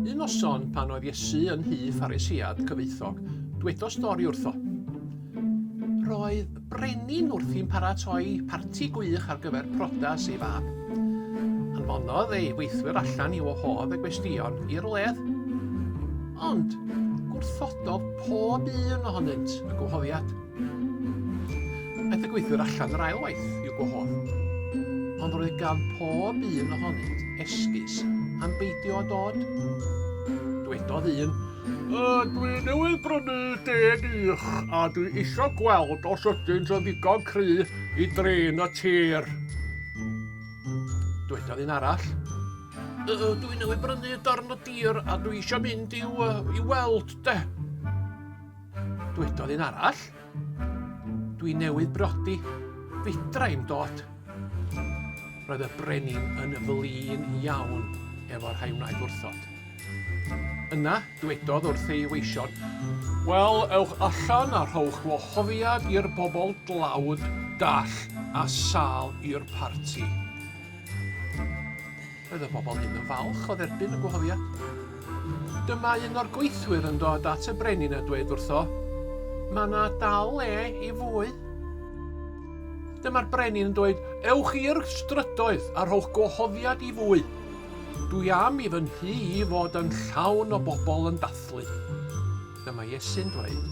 Un noson pan oedd Iesu yn nhŷ Pharisïad cyfoethog, dwedodd stori wrtho. Roedd brenin wrth i'n paratoi parti gwych ar gyfer prodas ei fab. Anfonodd ei weithwyr allan i wahodd y gwesteion i'r wledd. Ond gwrthododd pob un ohonynt y gwahoddiad. Aeth y gweithwyr allan yr ail waith i'w gwahodd. Ond roedd gan pob un ohonynt esgus am beidio â dod. Dwedodd un, Uh, dwi newydd brynu deg uwch a dwi isio gweld os ydynt yn ddigon cry i drin y tir. Dwedodd un arall. Uh, dwi newydd brynu darn o dir a dwi isio mynd i'w uh, i weld de. Dwedodd un arall. Dwi newydd brodi, fedra i'm dod. Roedd y brenin yn flin iawn efo rhai wnaeth wrthod. Yna, dwedodd wrth ei weision, Wel, ewch allan a rhowch wahoddiad i'r bobl dlawd, dall a sâl i'r parti. Roedd y bobl hyn yn falch o dderbyn y gwahoddiad. Dyma un o'r gweithwyr yn dod at y brenin a dweud wrtho, Mae yna dal le i fwy. Dyma'r brenin yn dweud, Ewch i'r strydoedd a rhowch gwahoddiad i fwy. Dwi am i fy nhŷ i fod yn llawn o bobl yn dathlu. Dyma Iesu'n dweud,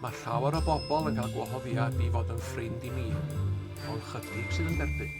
mae llawer o bobl yn cael gwahoddiad i fod yn ffrind i mi, ond chydig sydd yn derbyn.